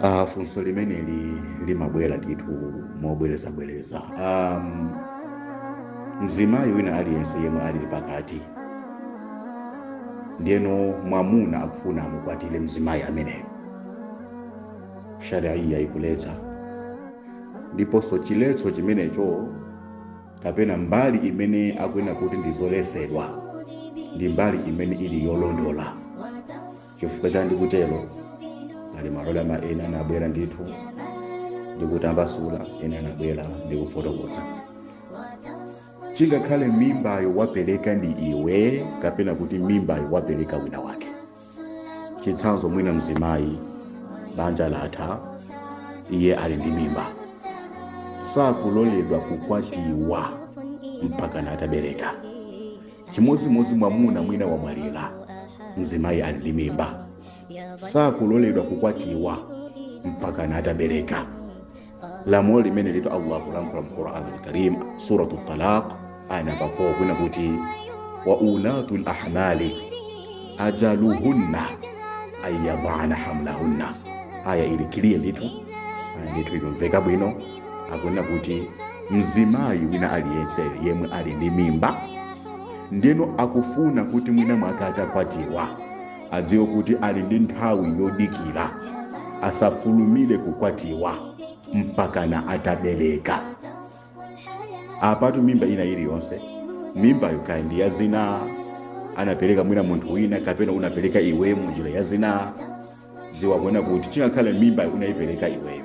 Ah, funso limeneli limabwera ndithu mobwerezabwereza um, mzimayi wina aliyense yemwe ali pakati ndiyeno mwamuna akufuna amukwatire mzimayi ameneyo shariya ikuletsa ndiponso chiletso chimenecho kapena mbali imene akunena kuti ndi zoletsedwa ndi mbali imene ili yolondola chifukwa cha ndikutero pali maulama ena anabwera ndithu ndikutambasula ena anabwera ndikufotokoza chingakhale mimbayo wapereka ndi iwe kapena kuti mimbayo wapereka wina wake chitsanzo mwina mzimayi banja latha iye ali ndi mimba sakuloledwa kukwatiwa mpaka natabereka chimodzimodzi mwamuna mwina wamwalira mzimayi ali ndi mimba sakuloledwa kukwatiwa mpaka natabereka lamulo limene litu allah kulankhula mu quran alkarim suratu talaq aya namba 4 akunena kuti wa ulatu lahmali ajaluhunna an yadana hamlahunna aya ili kiliye ndithu ndithu ikumveka bwino akunena kuti mzimayi wina aliyense yemwe ali ndi mimba ndeno akufuna kuti mwina mwake atakwatiwa adziwe kuti ali ndi nthawi yodikira asafulumire kukwatiwa mpakana atabereka apatu mimba ina iliyonse mimbayo kaya ndi ya zina anapereka mwina munthu wina kapena unapereka iweyo munjira ya zina dziwa kunena kuti chingakhale mimbayo unayipereka iweyo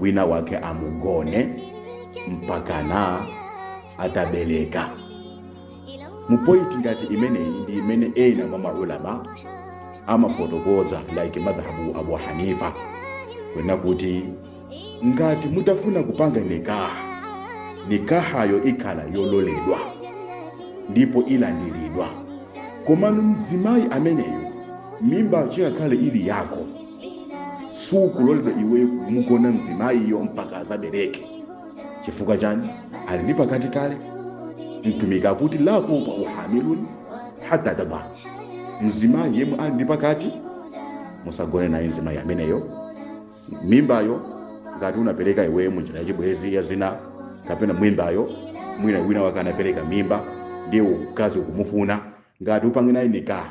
wina wake amugone mpakana atabereka mupointi ngati imeneyi ndi imene ena mwa maulama amafotokoza like madhhabu abu hanifa kunena kuti ngati mutafuna kupanga nikaha nikahayo ikhala yololedwa ndipo ilandiridwa komano mzimayi ameneyo mimbayo chingakhale ili yako sukuloledwa iweyo kumugona mzimayiyo mpaka azabereke chifukwa chani ali ndi pakati kale mtumiki akuti la tuta uhamilun hata tadha mzimayi yemwe ali ndi pakati musagone naye mzimayi ameneyo mimbayo ngati unapereka iweyo mu njira yachibwezi ya zina kapena mimbayo mwina wina wake anapereka mimba ndiye mkazi ukumufuna ngati upange naye nikaha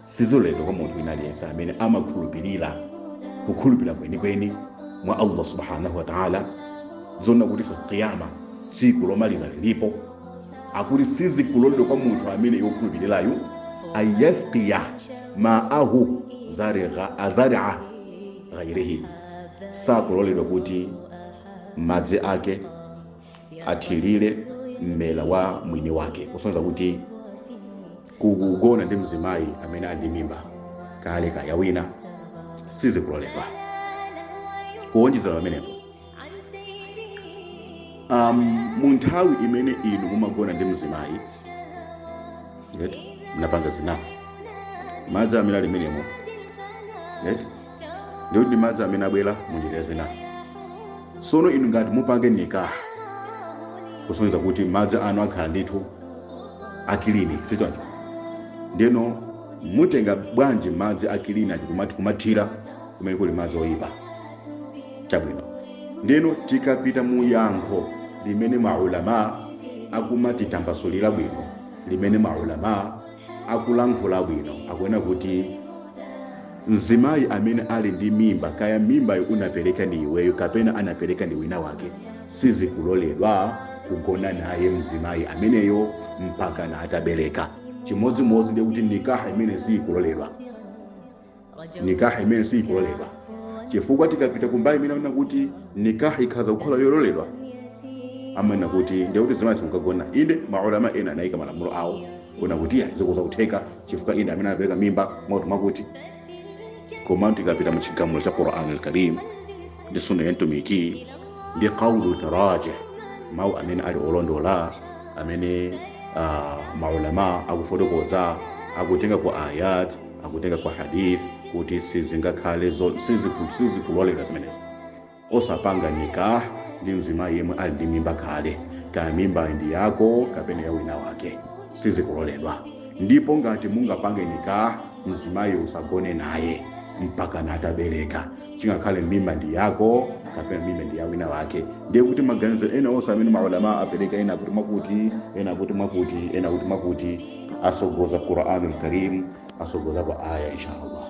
siziloledwa kwa munthu wina aliyense amene amakhulupirira kukhulupirira kwenikweni mwa allah subhanahu wa taala zoona kuti tsiku la kiyama tsiku lomaliza lilipo akuti sizikuloledwa kwa munthu amene wokhulupirirayu ayasqiya maahu zarigha- azaria ghairihi sakuloledwa kuti madzi ake athirire mmera wa mwini wake kusonyeza kuti kugona ndi mzimayi amene ali ndi mimba kale ya wina sizikuloledwa kuwonjezera pamenepo mu nthawi imene inu mumagona ndi mzimayi munapanga zinapo madzi amene ali mmenemo ndiye kuti ndi madzi amene abwera mu njira ya zina sono inu ngati mupange nikaha kusonyeza kuti madzi anu akhala ndithu a kilini sichoncho ndiyeno mutenga bwanji madzi a kilini aja kumati kumathira kumene kuli madzi oyipa chabwino ndiyeno tikapita mu yankho limene maulama akumatitambasulira bwino limene maulama akulankhula bwino akunena kuti Mzimayi amene ali ndi mimba, kaya mimbayo unapereka ndi iweyo kapena anapereka ndi wina wake, sizikuloledwa kugona naye mzimayi ameneyo mpaka na atabereka. Chimodzimodzi ndiye kuti nikaha imene siyikuloledwa, nikaha imene siyikuloledwa chifukwa tikapita kumbali imene akunena kuti nikaha ikhaza kukhala yololedwa amanena kuti ndiye kuti mzimayi simukagona. Inde maulama ena anayika malamulo awo kunena kuti iyayi zikhoza kutheka chifukwa ine amene anapereka mimba mwakuti mwakuti koma tikapita mu chigamulo cha quran alkarim ndi sunna ya mtumiki ndi qawlu tarjih mawu amene ali olondola amene uh, maulama akufotokoza akutenga ku ayat akutenga ku hadith kuti sizingakhale zo- siziku- sizikulolera zimenezo osapanga nikah ndi mzimayi yemwe ali ndi mimba kale kaya mimbayi ndi yako kapena ya wina wake sizikuloledwa ndipo ngati mungapange nikah mzimayi usagone naye mpaka natabereka chingakhale mimba ndi yako kapena mimba ndi ya wina wake ndiye kuti maganizo ena onse amene maulama apereka ena kuti mwakuti ena kuti mwakuti ena kuti mwakuti atsogoza quranul karim atsogoza kwa aya inshallah